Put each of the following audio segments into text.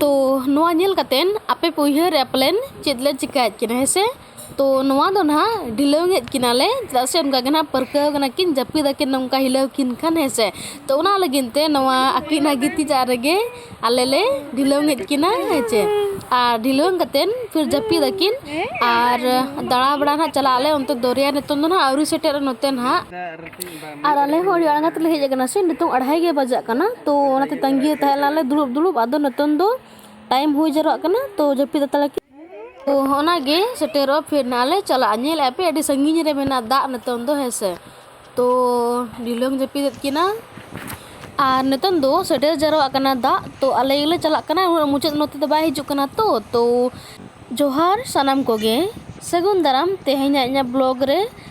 ᱛᱚ ᱱᱚᱣᱟ ᱧᱮᱞ ᱠᱟᱛᱮᱱ ᱟᱯᱮ ᱯᱮ ᱩᱭᱦᱟᱹᱨᱮᱜᱼᱟ ᱯᱟᱞᱮᱱ ᱪᱮᱫ ᱞᱮ ᱪᱤᱠᱟᱹᱭᱮᱫ ᱠᱤᱱᱟ ᱦᱮᱸ ᱥᱮ ᱛᱚ ᱱᱚᱣᱟ ᱫᱚ ᱱᱟᱦᱟᱜ ᱰᱷᱤᱞᱟᱹᱣᱮᱫ ᱠᱤᱱᱟᱞᱮ ᱪᱮᱫᱟᱜ ᱥᱮ ᱚᱱᱠᱟ ᱜᱮ ᱱᱟᱦᱟᱜ ᱯᱟᱹᱨᱠᱟᱹᱣ ᱠᱟᱱᱟ ᱠᱤᱱ ᱡᱟᱹᱯᱤᱫ ᱟᱹᱠᱤᱱ ᱱᱚᱝᱠᱟ ᱦᱤᱞᱟᱹᱣ ᱠᱤᱱ ᱠᱷᱟᱱ ᱦᱮᱸ ᱥᱮ ᱛᱚ ᱚᱱᱟ ᱞᱟᱹᱜᱤᱫ ᱛᱮ ᱱᱚᱣᱟ ᱟᱹᱠᱤᱱᱟᱜ ᱜᱤᱛᱤᱡᱟᱜ ᱨᱮᱜᱮ ᱟᱞᱮ ᱞᱮ ᱰᱷᱤᱞᱟᱹᱣᱮᱫ ᱠᱤᱱᱟ ᱦᱮᱸ ᱥᱮ ᱟᱨ ᱰᱷᱤᱞᱟᱹᱣ ᱠᱟᱛᱮᱱ ᱯᱷᱤᱨ ᱡᱟᱹᱯᱤᱫ ᱟᱹᱠᱤᱱ ᱟᱨ ᱫᱟᱬᱟ ᱵᱟᱲᱟ ᱱᱟᱦᱟᱜ ᱪᱟᱞᱟᱜ ᱟᱞᱮ ᱚᱱᱛᱮ ᱫᱚᱨᱭᱟ ᱱᱤᱛᱚᱝ ᱫᱚ ᱱᱟᱦᱟᱜ ᱟᱹᱣᱨᱤ ᱥᱮᱴᱮᱨᱚᱜᱼᱟ ᱱᱚᱛᱮ ᱱᱟᱦᱟᱜ ᱟᱨ ᱟᱞᱮ ᱦᱚᱸ ᱟᱹᱰᱤ ᱞᱟᱸᱜᱟ ᱛᱮᱞᱮ ᱦᱮᱡ ᱠᱟᱱᱟ ᱥᱮ ᱱᱤᱛᱚᱜ ᱟᱲᱦᱟᱭ ᱜᱮ ᱵᱟᱡᱟᱜ ᱠᱟᱱᱟ ᱛᱳ ᱚᱱᱟᱛᱮ ᱛᱟᱹᱜᱤ ᱨᱮ ᱛᱟᱦᱮᱸ ᱞᱮᱱᱟᱞᱮ ᱫᱩᱲᱩᱵ ᱫᱩᱲᱩᱵ ᱟᱫᱚ ᱱᱤᱛᱚᱝ ᱫᱚ ᱴᱟᱭᱤᱢ ᱦᱩᱭ ᱡᱟᱣᱨᱟᱜ ᱠᱟᱱᱟ ᱛᱳ ᱡᱟᱹᱯᱤᱫ ᱦᱟᱛᱟᱲ ᱟᱠᱤᱱ ᱛᱳ ᱚᱱᱟᱜᱮ ᱥᱮᱴᱮᱨᱚᱜ ᱯᱷᱤᱨ ᱱᱟᱦᱟᱜ ᱞᱮ ᱪᱟᱞᱟᱜᱼᱟ ᱧᱮᱞ ᱮᱫᱼᱟ ᱯᱮ ᱟᱹᱰᱤ ᱥᱟᱺᱜᱤᱧ ᱨᱮ ᱢᱮᱱᱟᱜᱼᱟ ᱫᱟᱜ ᱱᱤᱛᱚᱝ ᱫᱚ ᱦᱮᱸ ᱥᱮ ᱛᱳ ᱰᱷᱤᱞᱟᱹᱢ ᱡᱟᱹᱯᱤᱫᱮᱫ ᱠᱤᱱᱟ ᱟᱨ ᱱᱤᱛᱚᱝ ᱫᱚ ᱥᱮᱴᱮᱨ ᱡᱟᱣᱨᱟᱜ ᱠᱟᱱᱟ ᱫᱟᱜ ᱛᱳ ᱟᱞᱮ ᱜᱮᱞᱮ ᱪᱟᱞᱟᱜ ᱠᱟᱱᱟ ᱩᱱᱟᱹᱜ ᱢᱩᱪᱟᱹᱫ ᱱᱚᱛᱮ ᱫᱚ ᱵᱟᱭ ᱦᱤᱡᱩᱜ ᱠᱟᱱᱟ ᱛᱳ ᱛᱳ ᱡᱚᱦᱟᱨ ᱥᱟᱱᱟᱢ ᱠᱚᱜᱮ ᱥᱟᱹᱜᱩᱱ ᱫᱟᱨᱟᱢ ᱛᱮᱦᱮᱧᱟᱜ ᱤᱧᱟᱹᱜ ᱵᱞᱚᱜᱽ ᱨᱮ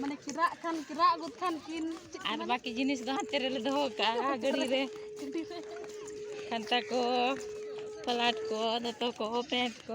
ᱢᱟᱱᱮ ᱠᱮᱨᱟᱜ ᱠᱷᱟᱱ ᱠᱮᱨᱟᱜ ᱟᱹᱜᱩ ᱠᱷᱟᱱ ᱠᱤᱱ ᱟᱨ ᱵᱟᱹᱠᱤ ᱡᱤᱱᱤᱥ ᱫᱚ ᱦᱟᱱᱛᱮ ᱨᱮᱞᱮ ᱫᱚᱦᱚ ᱠᱟᱜᱼᱟ ᱜᱟᱹᱰᱤ ᱨᱮ ᱠᱷᱟᱱᱛᱟ ᱠᱚ ᱯᱟᱞᱟᱴ ᱠᱚ ᱫᱚᱛᱚ ᱠᱚ ᱯᱮᱸᱴ ᱠᱚ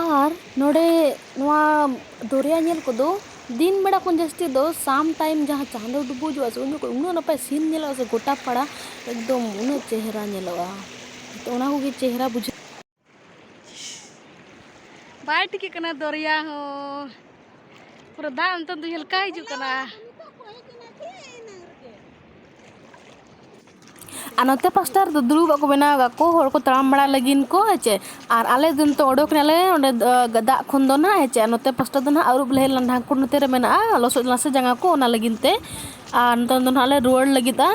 ᱟᱨ ᱱᱚᱰᱮ ᱱᱚᱣᱟ ᱫᱚᱨᱭᱟ ᱧᱮᱞ ᱠᱚᱫᱚ ᱫᱤᱱ ᱵᱮᱲᱟ ᱠᱷᱚᱱ ᱡᱟᱹᱥᱛᱤ ᱫᱚ ᱥᱟᱢ ᱴᱟᱭᱤᱢ ᱡᱟᱦᱟᱸ ᱪᱟᱸᱫᱚ ᱰᱩᱵᱩᱡᱚᱜᱼᱟ ᱥᱮ ᱩᱱ ᱡᱚᱠᱷᱚᱱ ᱩᱱᱟᱹᱜ ᱱᱟᱯᱟᱭ ᱥᱤᱱ ᱧᱮᱞᱚᱜᱼᱟ ᱥᱮ ᱜᱚᱴᱟ ᱯᱟᱲᱟ ᱮᱠᱫᱚᱢ ᱩᱱᱟᱹᱜ ᱪᱮᱦᱨᱟ ᱧᱮᱞᱚᱜᱼᱟ ᱛᱚ ᱚᱱᱟ ᱠᱚᱜᱮ ᱪᱮᱦᱨᱟ ᱵᱩᱡᱷᱟᱹᱜᱼᱟ ᱵᱟᱭ ᱴᱷᱤᱠᱟᱹᱜ ᱠᱟᱱᱟ ᱫᱚᱨᱭᱟ ᱦᱚᱸ ᱯᱩᱨᱟᱹ ᱫᱟᱜ ᱱᱤᱛᱚᱝ ᱫᱚ ᱦᱮᱞᱠᱟ ᱦᱤᱡᱩᱜ ᱠᱟᱱᱟ ᱟᱨ ᱱᱚᱛᱮ ᱯᱟᱥᱴᱟ ᱨᱮᱫᱚ ᱫᱩᱲᱩᱵᱟᱜ ᱠᱚ ᱵᱮᱱᱟᱣ ᱟᱠᱟᱫ ᱠᱚ ᱦᱚᱲ ᱠᱚ ᱛᱟᱲᱟᱢ ᱵᱟᱲᱟ ᱞᱟᱹᱜᱤᱫ ᱠᱚ ᱦᱮᱸᱪᱮ ᱟᱨ ᱟᱞᱮ ᱫᱚ ᱱᱤᱛᱚᱜ ᱚᱰᱚᱠ ᱮᱱᱟᱞᱮ ᱚᱸᱰᱮ ᱫᱟᱜ ᱠᱷᱚᱱ ᱫᱚ ᱱᱟᱦᱟᱜ ᱦᱮᱸᱪᱮ ᱟᱨ ᱱᱚᱛᱮ ᱯᱟᱥᱴᱟ ᱫᱚ ᱱᱟᱦᱟᱜ ᱟᱹᱨᱩᱵ ᱞᱮ ᱦᱮᱡ ᱞᱮᱱᱟ ᱰᱷᱟᱝᱠᱩᱲ ᱱᱚᱛᱮ ᱨᱮ ᱢᱮᱱᱟᱜᱼᱟ ᱞᱚᱥᱚᱫ ᱞᱮᱱᱟ ᱥᱮ ᱡᱟᱸᱜᱟ ᱠᱚ ᱚᱱᱟ ᱞᱟᱹᱜᱤᱫ ᱛᱮ ᱟᱨ ᱱᱤᱛᱚᱝ ᱫᱚ ᱱᱟᱦᱟᱜ ᱞᱮ ᱨᱩᱣᱟᱹᱲ ᱞᱟᱹᱜᱤᱫᱼᱟ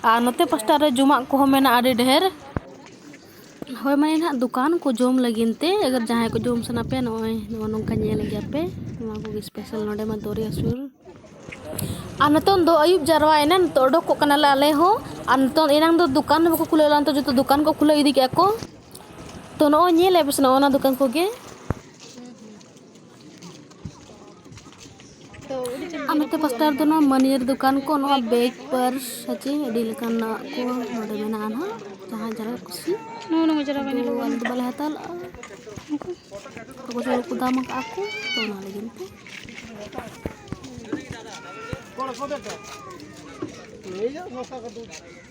ᱟᱨ ᱱᱚᱛᱮ ᱯᱟᱥᱴᱟ ᱨᱮ ᱡᱚᱢᱟᱜ ᱠᱚᱦᱚᱸ ᱢᱮᱱᱟᱜᱼᱟ ᱟᱹᱰᱤ ᱰᱷᱮᱨ ᱦᱳᱭ ᱢᱟᱱᱮ ᱱᱟᱦᱟᱜ ᱫᱚᱠᱟᱱ ᱠᱚ ᱡᱚᱢ ᱞᱟᱹᱜᱤᱫ ᱛᱮ ᱟᱜᱟᱨ ᱡᱟᱦᱟᱸᱭ ᱠᱚ ᱡᱚᱢ ᱥᱟᱱᱟ ᱯᱮᱭᱟ ᱱᱚᱜᱼᱚᱭ ᱱᱚᱜᱼᱚ ᱱᱚᱝᱠᱟ ᱧᱮᱞ ᱜᱮᱭᱟ ᱯᱮ ᱱᱚᱣᱟ ᱠᱚᱜᱮ ᱥᱯᱮᱥᱟᱞ ᱱᱚᱰᱮ ᱢᱟ ᱫᱚᱨᱭᱟ ᱥᱩᱨ ᱟᱨ ᱱᱤᱛᱚᱝ ᱫᱚ ᱟᱹᱭᱩᱵ ᱡᱟᱨᱣᱟᱭᱮᱱᱟ ᱱᱤᱛᱚᱜ ᱚᱰᱚᱠᱚᱜ ᱠᱟᱱᱟᱞᱮ ᱟᱞᱮ ᱦᱚᱸ ᱟᱨ ᱱᱤᱛᱚᱝ ᱮᱱᱟᱝ ᱫᱚ ᱫᱚᱠᱟᱱ ᱦᱚᱸ ᱵᱟᱠᱚ ᱠᱷᱩᱞᱟᱹᱣ ᱞᱮᱫᱟ ᱱᱤᱛᱚᱜ ᱡᱚᱛᱚ ᱫᱚᱠᱟᱱ ᱠᱚ ᱠᱷᱩᱞᱟᱹᱣ ᱤᱫᱤ ᱠᱮᱫᱼᱟ ᱠᱚ ᱛᱚ ᱱᱚᱜᱼᱚᱭ ᱧᱮᱞᱮᱫᱼᱟ ᱯᱮ ᱥᱮ ᱱᱚᱜᱼᱚ ᱱᱚᱣᱟ ᱫᱚᱠᱟᱱ ᱠᱚᱜᱮ ᱟᱨ ᱱᱚᱛᱮ ᱯᱟᱥᱴᱟ ᱨᱮᱫᱚ ᱱᱚᱣᱟ ᱢᱟᱹᱱᱤᱭᱟᱹᱨ ᱫᱚᱠᱟᱱ ᱠᱚ ᱱᱚᱣᱟ ᱵᱮᱜᱽ ᱯᱟᱨᱥ ᱥᱟᱪᱮ ᱟᱹᱰᱤ ᱞᱮᱠᱟᱱᱟᱜ ᱠᱚ ᱱᱚᱰᱮ ᱢᱮᱱᱟᱜᱼᱟ ᱱᱟᱦᱟᱜ ᱡᱟᱦᱟᱸ ᱡᱟᱦᱟᱸ ᱠᱩᱥᱤ ᱱᱚᱣᱟ ᱱᱚᱣᱟ ᱡᱟᱨᱟ ᱵᱟᱹᱧ ᱞᱟᱜᱟᱣ ᱟᱞᱮ ᱫᱚ ᱵᱟᱞᱮ ᱦᱟᱛᱟᱣ ᱞᱟᱜᱼᱟ ᱩᱱᱠᱩ ᱛᱚᱠᱚ ᱡᱚᱨ ᱠᱚ ᱫᱟᱢ ᱟᱠᱟᱫ ᱠᱚ ᱛᱚ ᱚᱱᱟ ᱞᱟᱹᱜᱤᱫ ᱛᱮ ᱠᱚᱲᱟ ᱠᱚ ᱫᱮᱠᱟ ᱞᱟᱹᱭ ᱡᱟ ᱱᱚᱥᱟ ᱠᱟᱫᱩ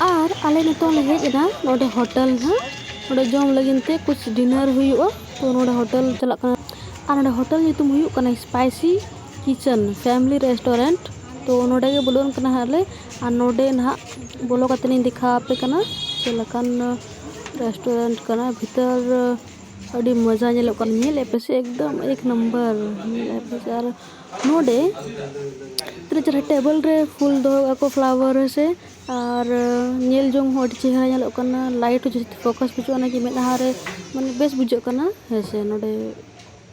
ᱟᱨ ᱟᱞᱮ ᱱᱤᱛᱚᱜ ᱞᱮ ᱦᱮᱡ ᱮᱱᱟ ᱱᱚᱰᱮ ᱦᱳᱴᱮᱞ ᱦᱟᱸᱜ ᱱᱚᱰᱮ ᱡᱚᱢ ᱞᱟᱹᱜᱤᱫ ᱛᱮ ᱠᱩᱪ ᱰᱤᱱᱟᱨ ᱦᱩᱭᱩᱜᱼᱟ ᱛᱚ ᱱᱚᱰᱮ ᱦᱳᱴᱮᱞ ᱪᱟᱞᱟᱜ ᱠᱟᱱᱟ ᱟᱨ ᱱᱚᱰᱮ ᱦᱳᱴᱮᱞ ᱧᱩᱛᱩᱢ ᱦᱩᱭᱩᱜ ᱠᱟᱱᱟ ᱥᱯᱟᱭᱥᱤ ᱠᱤᱪᱮᱱ ᱯᱷᱮᱢᱞᱤ ᱨᱮᱥᱴᱩᱨᱮᱱᱴ ᱛᱚ ᱱᱚᱸᱰᱮ ᱜᱮ ᱵᱚᱞᱚᱱ ᱠᱟᱱᱟ ᱦᱟᱸᱜ ᱞᱮ ᱟᱨ ᱱᱚᱸᱰᱮ ᱱᱟᱦᱟᱜ ᱵᱚᱞᱚ ᱠᱟᱛᱮ ᱞᱤᱧ ᱫᱮᱠᱷᱟᱣ ᱟᱯᱮ ᱠᱟᱱᱟ ᱪᱮᱫ ᱞᱮᱠᱟᱱ ᱨᱮᱥᱴᱩᱨᱮᱱᱴ ᱠᱟᱱᱟ ᱵᱷᱤᱛᱟᱹᱨ ᱟᱹᱰᱤ ᱢᱚᱡᱟ ᱧᱮᱞᱚᱜ ᱠᱟᱱᱟ ᱧᱮᱞ ᱮᱫ ᱯᱮᱥᱮ ᱮᱠᱫᱚᱢ ᱮᱠ ᱱᱟᱢᱵᱟᱨ ᱧᱮᱞ ᱮᱫ ᱯᱮᱥᱮ ᱟᱨ ᱱᱚᱸᱰᱮ ᱛᱤᱱᱟᱹᱜ ᱪᱮᱨᱦᱟ ᱴᱮᱵᱮᱞ ᱨᱮ ᱯᱷᱩᱞ ᱫᱚᱦᱚ ᱠᱟᱜᱼᱟ ᱠᱚ ᱯᱷᱞᱟᱣᱟᱨ ᱦᱮᱸ ᱥᱮ ᱟᱨ ᱧᱮᱞ ᱡᱚᱝ ᱦᱚᱸ ᱟᱹᱰᱤ ᱪᱮᱦᱨᱟ ᱧᱮᱞᱚᱜ ᱠᱟᱱᱟ ᱞᱟᱭᱤᱴ ᱦᱚᱸ ᱡᱟᱹᱥᱛᱤ ᱯᱷᱳᱠᱟᱥ ᱵᱩᱡᱷᱟᱹᱜ ᱠᱟᱱᱟ ᱢᱮᱫᱦᱟ ᱨᱮ ᱢᱟᱱᱮ ᱵᱮᱥ ᱵᱩᱡᱷᱟᱹᱜ ᱠᱟᱱᱟ ᱦᱮᱸ ᱥᱮ ᱱᱚᱸᱰᱮ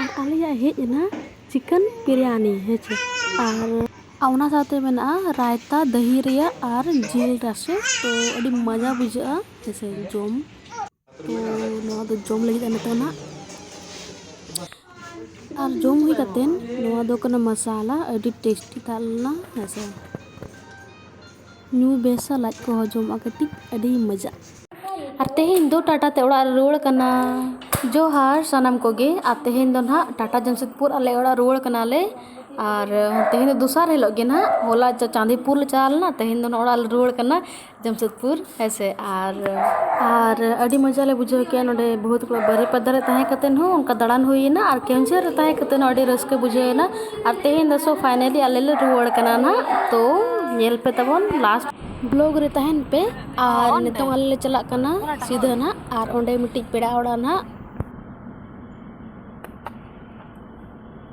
ᱟᱨ ᱟᱞᱮᱭᱟᱜ ᱦᱮᱡ ᱮᱱᱟ ᱪᱤᱠᱮᱱ ᱵᱤᱨᱭᱟᱱᱤ ᱦᱮᱸᱥᱮ ᱟᱨ ᱚᱱᱟ ᱥᱟᱶᱛᱮ ᱢᱮᱱᱟᱜᱼᱟ ᱨᱟᱭᱛᱟ ᱫᱟᱹᱦᱤ ᱨᱮᱭᱟᱜ ᱟᱨ ᱡᱤᱞ ᱨᱟᱥᱮ ᱛᱚ ᱟᱹᱰᱤ ᱢᱚᱡᱟ ᱵᱩᱡᱷᱟᱹᱜᱼᱟ ᱦᱮᱸᱥᱮ ᱡᱚᱢ ᱛᱚ ᱱᱚᱣᱟ ᱫᱚ ᱡᱚᱢ ᱞᱟᱹᱜᱤᱫ ᱱᱤᱛᱚᱜ ᱱᱟᱜ ᱟᱨ ᱡᱚᱢ ᱦᱩᱭ ᱠᱟᱛᱮᱫ ᱱᱚᱣᱟ ᱫᱚ ᱠᱟᱱᱟ ᱢᱟᱥᱟᱞᱟ ᱟᱹᱰᱤ ᱴᱮᱥᱴᱤ ᱛᱟᱦᱮᱸ ᱞᱮᱱᱟ ᱦᱮᱸᱥᱮ ᱧᱩ ᱵᱮᱥᱟ ᱞᱟᱡ ᱠᱚ ᱦᱚᱡᱚᱢᱚᱜᱼᱟ ᱠᱟᱹᱴᱤᱡ ᱟᱹᱰᱤ ᱢᱚᱡᱟ᱾ ᱟᱨ ᱛᱮᱦᱮᱧ ᱫᱚ ᱴᱟᱴᱟ ᱛᱮ ᱚᱲᱟᱜ ᱞᱮ ᱨᱩᱣᱟᱹᱲ ᱠᱟᱱᱟ᱾ ᱡᱚᱦᱟᱨ ᱥᱟᱱᱟᱢ ᱠᱚᱜᱮ ᱟᱨ ᱛᱮᱦᱮᱧ ᱫᱚ ᱱᱟᱦᱟᱜ ᱴᱟᱴᱟ ᱡᱟᱢᱥᱮᱫᱽᱯᱩᱨ ᱟᱞᱮ ᱚᱲᱟᱜ ᱨᱩᱣᱟᱹᱲ ᱠᱟᱱᱟ ᱞᱮ ᱟᱨ ᱛᱮᱦᱮᱧ ᱫᱚ ᱫᱚᱥᱟᱨ ᱦᱤᱞᱳᱜ ᱜᱮ ᱱᱟᱦᱟᱜ ᱦᱚᱞᱟ ᱪᱟᱸᱫᱤᱯᱩᱨ ᱞᱮ ᱪᱟᱞᱟᱣ ᱞᱮᱱᱟ ᱛᱮᱦᱮᱧ ᱫᱚ ᱱᱟᱦᱟᱜ ᱚᱲᱟᱜ ᱞᱮ ᱨᱩᱣᱟᱹᱲ ᱠᱟᱱᱟ ᱡᱟᱢᱥᱮᱫᱽᱯᱩᱨ ᱦᱮᱸ ᱥᱮ ᱟᱨ ᱟᱨ ᱟᱹᱰᱤ ᱢᱚᱡᱟ ᱞᱮ ᱵᱩᱡᱷᱟᱹᱣ ᱠᱮᱜᱼᱟ ᱱᱚᱰᱮ ᱵᱟᱹᱦᱩ ᱛᱟᱠᱚ ᱵᱟᱹᱨᱤᱯᱟᱫᱟ ᱨᱮ ᱛᱟᱦᱮᱸ ᱠᱟᱛᱮ ᱦᱚᱸ ᱚᱱᱠᱟ ᱫᱟᱬᱟᱱ ᱦᱩᱭᱮᱱᱟ ᱟᱨ ᱠᱮᱣᱡᱷᱟᱹᱨ ᱨᱮ ᱛᱟᱦᱮᱸ ᱠᱟᱛᱮ ᱦᱚᱸ ᱟᱹᱰᱤ ᱨᱟᱹᱥᱠᱟᱹ ᱵᱩᱡᱷᱟᱹᱣᱮᱱᱟ᱾ ᱟᱨ ᱛᱮᱦᱮᱧ ᱫᱚ ᱥᱳ ᱯᱷᱟᱭᱱᱟᱞᱤ ᱟᱞᱮ ᱞᱮ ᱨᱩᱣᱟᱹᱲ ᱠᱟᱱᱟ ᱱᱟᱜ ᱛᱳ ᱧᱮᱞ ᱯᱮ ᱛᱟᱵᱚᱱ ᱞᱟᱥᱴ ᱵᱞᱚᱜᱽ ᱨᱮ ᱛᱟᱦᱮᱱ ᱯᱮ ᱟᱨ ᱱᱤᱛᱚᱝ ᱟᱞᱮ ᱞᱮ ᱪᱟᱞᱟᱜ ᱠᱟᱱᱟ ᱥᱤᱫᱷᱟᱹ ᱱᱟᱜ ᱟᱨ ᱚᱸᱰᱮ ᱢᱤᱫᱴᱤᱡ ᱯᱮᱲᱟ ᱚᱲᱟᱜ ᱱᱟᱜ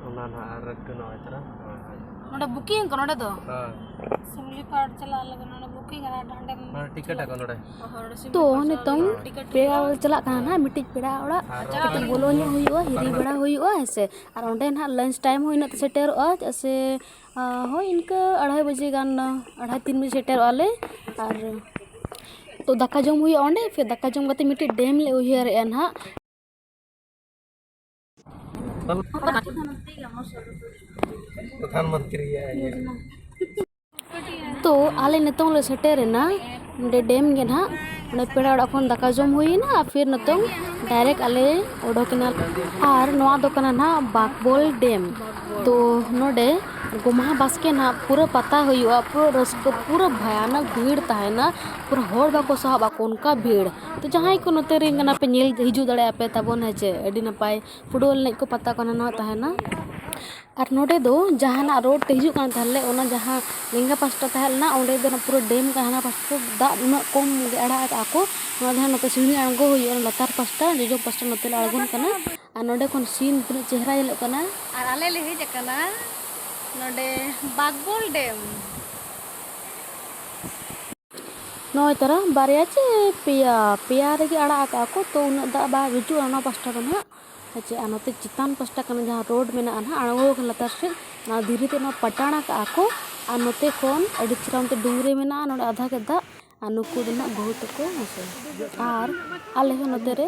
ᱚᱱᱟ ᱱᱟᱜ ᱟᱨ ᱠᱟᱱᱟ ᱚᱡᱽᱨᱟ ᱱᱚᱰᱮ ᱵᱩᱠᱤᱝ ᱠᱚ ᱱᱚᱰᱮ ᱫᱚ ᱥᱤᱢᱞᱤ ᱯᱟᱨ ᱪᱟᱞᱟᱜ ᱞᱟᱹᱜᱤᱫ ᱱᱚᱰᱮ ᱵᱩᱠᱤᱝ ᱟᱨ ᱱᱚᱰᱮ ᱴᱤᱠᱮᱴ ᱟᱠᱚ ᱱᱚᱰᱮ ᱛᱚ ᱱᱤᱛᱚᱝ ᱯᱮᱲᱟ ᱪᱟᱞᱟᱜ ᱠᱟᱱᱟ ᱱᱟᱜ ᱢᱤᱫᱴᱤᱡ ᱯᱮᱲᱟ ᱚᱲᱟᱜ ᱠᱟᱹᱴᱤᱡ ᱵᱚᱞᱚ ᱧᱚᱜ ᱦᱩᱭᱩᱜᱼᱟ ᱦᱤᱨᱤ ᱵᱟᱲᱟ ᱦᱩᱭᱩᱜᱼᱟ ᱦᱮᱸ ᱥᱮ ᱟᱨ ᱚᱸᱰᱮ ᱱᱟᱦᱟᱜ ᱞᱟᱱᱪ ᱴᱟᱭᱤᱢ ᱦᱚᱸ ᱤᱱᱟᱹᱜ ᱛᱮ ᱥᱮᱴᱮᱨᱚᱜᱼᱟ ᱪᱮᱫᱟᱜ ᱥᱮ ᱦᱳᱭ ᱤᱱᱠᱟᱹ ᱟᱲᱟᱭ ᱵᱟᱡᱮ ᱜᱟᱱ ᱟᱲᱟᱭ ᱛᱤᱱ ᱵᱟᱡᱮ ᱥᱮᱴᱮᱨᱚᱜᱼᱟ ᱞᱮ ᱟᱨ ᱛᱚ ᱫᱟᱠᱟ ᱡᱚᱢ ᱦᱩᱭᱩᱜᱼᱟ ᱚᱸᱰᱮ ᱯᱷᱤᱨ ᱫᱟᱠᱟ ᱡᱚᱢ ᱠᱟᱛᱮᱫ ᱢᱤᱫᱴᱮᱡ ᱰᱮᱢ ᱞᱮ ᱩᱭᱦᱟᱹᱨᱮᱜᱼᱟ ᱱᱟᱦᱟᱜ ᱯᱨᱚᱫᱷᱟᱱ ᱢᱚᱱᱛᱨᱤ ᱭᱟᱜ ᱤᱭᱟᱹ ᱛᱚ ᱟᱞᱮ ᱱᱤᱛᱚᱝ ᱞᱮ ᱥᱮᱴᱮᱨᱮᱱᱟ ᱱᱚᱰᱮ ᱰᱮᱢ ᱜᱮ ᱱᱟᱦᱟᱜ ᱚᱸᱰᱮ ᱯᱮᱲᱟ ᱚᱲᱟᱜ ᱠᱷᱚᱱ ᱫᱟᱠᱟ ᱡᱚᱢ ᱦᱩᱭᱮᱱᱟ ᱟᱨ ᱯᱷᱤᱨ ᱱᱤᱛᱚᱝ ᱰᱟᱭᱨᱮᱠᱴ ᱟᱞᱮ ᱚᱰᱚᱠᱮᱱᱟ ᱟᱨ ᱱᱚᱣᱟ ᱫᱚ ᱠᱟᱱᱟ ᱱᱟᱦᱟᱜ ᱵᱟᱠᱵᱚᱞ ᱰᱮᱢ ᱛᱚ ᱱᱚᱰᱮ ᱜᱚᱢᱦᱟ ᱵᱟᱥᱠᱮ ᱱᱟᱦᱟᱜ ᱯᱩᱨᱟᱹ ᱯᱟᱛᱟ ᱦᱩᱭᱩᱜᱼᱟ ᱯᱩᱨᱟᱹ ᱨᱟᱹᱥᱠᱟᱹ ᱯᱩᱨᱟᱹ ᱵᱷᱚᱭᱟᱱᱚᱠ ᱵᱷᱤᱲ ᱛᱟᱦᱮᱱᱟ ᱯᱩᱨᱟᱹ ᱦᱚᱲ ᱵᱟᱠᱚ ᱥᱟᱦᱚᱵᱼᱟ ᱚᱱᱠᱟ ᱵᱷᱤᱲ ᱛᱚ ᱡᱟᱦᱟᱸᱭ ᱠᱚ ᱱᱚᱛᱮ ᱨᱮᱱ ᱠᱟᱱᱟ ᱯᱮ ᱧᱮᱞ ᱦᱤᱡᱩᱜ ᱫᱟᱲᱮᱭᱟᱜᱼᱟ ᱯᱮ ᱛᱟᱵᱚᱱ ᱦᱮᱸᱥᱮ ᱟᱹᱰᱤ ᱱᱟᱯᱟᱭ ᱯᱷᱩᱴᱵᱚᱞ ᱮᱱᱮᱡ ᱠᱚ ᱯᱟᱛᱟ ᱠᱚ ᱦᱟᱱᱟ ᱱᱚᱣᱟ ᱛᱟᱦᱮᱱᱟ ᱟᱨ ᱱᱚᱸᱰᱮ ᱫᱚ ᱡᱟᱦᱟᱱᱟᱜ ᱨᱳᱰ ᱛᱮ ᱦᱤᱡᱩᱜ ᱠᱟᱱ ᱛᱟᱦᱮᱸᱫ ᱞᱮ ᱚᱱᱟ ᱡᱟᱦᱟᱸ ᱞᱮᱸᱜᱟ ᱯᱟᱥᱴᱟ ᱛᱟᱦᱮᱸ ᱞᱮᱱᱟ ᱚᱸᱰᱮ ᱫᱚ ᱱᱟᱦᱟᱜ ᱯᱩᱨᱟᱹ ᱰᱮᱢ ᱠᱟᱱᱟ ᱦᱟᱱᱟ ᱯᱟᱥᱴᱟ ᱫᱚ ᱫᱟᱜ ᱩᱱᱟᱹᱜ ᱠᱚᱢ ᱜᱮ ᱟᱲᱟᱜ ᱟᱠᱟᱫᱼᱟ ᱠᱚ ᱱᱚᱣᱟ ᱫᱚ ᱱᱟᱦᱟᱜ ᱱᱚᱛᱮ ᱥᱤᱲᱤ ᱟᱬᱜᱚ ᱦᱩᱭᱩᱜᱼᱟ ᱚᱱᱟ ᱞᱟᱛᱟᱨ ᱯᱟᱥᱴᱟ ᱡᱚᱡᱚᱢ ᱯᱟᱥᱴᱟ ᱱᱚᱛᱮ ᱞᱮ ᱟᱬᱜᱚᱱ ᱠᱟᱱᱟ ᱟᱨ ᱱᱚᱸᱰᱮ ᱠᱷᱚᱱ ᱥᱤᱱ ᱛᱤᱱᱟᱹᱜ ᱪᱮᱦᱨᱟ ᱧᱮᱞᱚᱜ ᱠᱟᱱᱟ ᱟᱨ ᱟᱞᱮ ᱞᱮ ᱦᱮᱡ ᱟᱠᱟᱱᱟ ᱱᱚᱸᱰᱮ ᱵᱟᱜᱽᱵᱚᱞ ᱰᱮᱢ ᱱᱚᱜᱼᱚᱭ ᱛᱟᱨᱟ ᱵᱟᱨᱭᱟ ᱪᱮ ᱯᱮᱭᱟ ᱯᱮᱭᱟ ᱨᱮᱜᱮ ᱟᱲᱟᱜ ᱟᱠᱟᱫᱼᱟ ᱠᱚ ᱛᱚ ᱩᱱᱟᱹᱜ ᱫᱟᱜ ᱵᱟᱭ ᱦᱤᱡᱩᱜᱼᱟ ᱚᱱᱟ ᱯᱟᱥᱴᱟ ᱫᱚ ᱱᱟᱦᱟᱜ ᱦᱮᱸᱪᱮ ᱟᱨ ᱱᱚᱛᱮ ᱪᱮᱛᱟᱱ ᱯᱟᱥᱴᱟ ᱠᱟᱱᱟ ᱡᱟᱦᱟᱸ ᱨᱳᱰ ᱢᱮᱱᱟᱜᱼᱟ ᱱᱟᱦᱟᱜ ᱟᱬᱜᱚ ᱟᱠᱟᱱᱟ ᱞᱟᱛᱟᱨ ᱥᱮᱫ ᱚᱱᱟ ᱫᱷᱤᱨᱤ ᱛᱮ ᱚᱱᱟ ᱯᱟᱴᱟᱬ ᱟᱠᱟᱫᱼᱟ ᱠᱚ ᱟᱨ ᱱᱚᱛᱮ ᱠᱷᱚᱱ ᱟᱹᱰᱤ ᱪᱮᱦᱨᱟ ᱚᱱᱛᱮ ᱰᱩᱝᱨᱤ ᱢᱮᱱᱟᱜᱼᱟ ᱱᱚᱰᱮ ᱟᱫᱷᱟ ᱜᱮ ᱫᱟᱜ ᱟᱨ ᱱᱩᱠᱩ ᱫᱚ ᱱᱟᱦᱟᱜ ᱵᱟᱹᱦᱩ ᱛᱟᱠᱚ ᱦᱮᱸᱥᱮ ᱟᱨ ᱟᱞᱮ ᱦᱚᱸ ᱱᱚᱛᱮ ᱨᱮ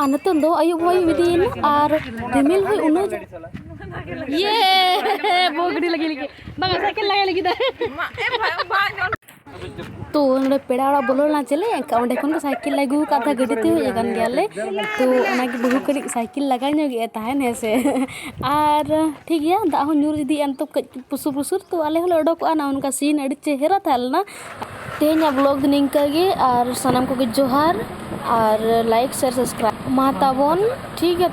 ᱟᱨ ᱱᱤᱛᱚᱝ ᱫᱚ ᱟᱹᱭᱩᱵ ᱦᱚᱭ ᱤᱫᱤᱭᱮᱱᱟ ᱟᱨ ᱨᱤᱢᱤᱞ ᱦᱚᱭ ᱩᱱᱟᱹᱜ ᱤᱭᱮ ᱵᱚ ᱜᱟᱹᱰᱤ ᱞᱟᱹᱜᱤᱫ ᱞᱟᱹᱜᱤᱫ ᱵᱟᱝ ᱥᱟᱭᱠᱮᱞ ᱞᱟᱜᱟᱭ ᱞᱟᱹᱜᱤᱫ ᱛᱚ ᱱᱚᱰᱮ ᱯᱮᱲᱟ ᱚᱲᱟᱜ ᱵᱚᱞᱚ ᱞᱮᱱᱟ ᱪᱮᱞᱮ ᱮᱱᱠᱷᱟᱱ ᱚᱸᱰᱮ ᱠᱷᱚᱱ ᱜᱮ ᱥᱟᱭᱠᱮᱞ ᱟᱹᱜᱩ ᱟᱠᱟᱫ ᱛᱟᱦᱮᱸ ᱜᱟᱹᱰᱤ ᱛᱮ ᱦᱮᱡ ᱟᱠᱟᱱ ᱜᱮᱭᱟᱞᱮ ᱛᱚ ᱚᱱᱟᱜᱮ ᱵᱟᱹᱦᱩ ᱠᱟᱹᱴᱤᱡ ᱥᱟᱭᱠᱮᱞ ᱞᱟᱜᱟ ᱧᱚᱜᱮᱫ ᱛᱟᱦᱮᱱ ᱦᱮᱸ ᱥᱮ ᱟᱨ ᱴᱷᱤᱠ ᱜᱮᱭᱟ ᱫᱟᱜ ᱦᱚᱸ ᱧᱩᱨ ᱤᱫᱤᱭᱮᱫᱼᱟ ᱱᱤᱛᱚᱜ ᱠᱟᱹᱡ ᱯᱩᱥᱩᱨ ᱯᱩᱥᱩᱨ ᱛᱚ ᱟᱞᱮ ᱦᱚᱸᱞᱮ ᱚᱰᱚᱠᱚᱜᱼᱟ ᱱᱚᱜᱼᱚ ᱱᱚᱝᱠᱟ ᱥᱤᱱ ᱟᱹᱰᱤ ᱪᱮᱦᱨᱟ ᱛᱟᱦᱮᱸ ᱞᱮᱱᱟ ᱛᱮᱦᱮᱧᱟᱜ ᱵᱞᱚᱜᱽ ᱫᱚ ᱱᱤᱝᱠᱟᱹ ᱜᱮ ᱟᱨ ᱥᱟᱱᱟᱢ ᱠᱚᱜᱮ ᱡᱚᱦᱟᱨ ᱟᱨ ᱞᱟᱭᱤᱠ ᱥᱮᱭᱟᱨ ᱥᱟᱵᱥᱠᱨᱟᱭᱤᱵᱽ ᱢᱟ ᱛᱟᱵᱚᱱ ᱴᱷᱤᱠ ᱜᱮᱭᱟ ᱛᱚ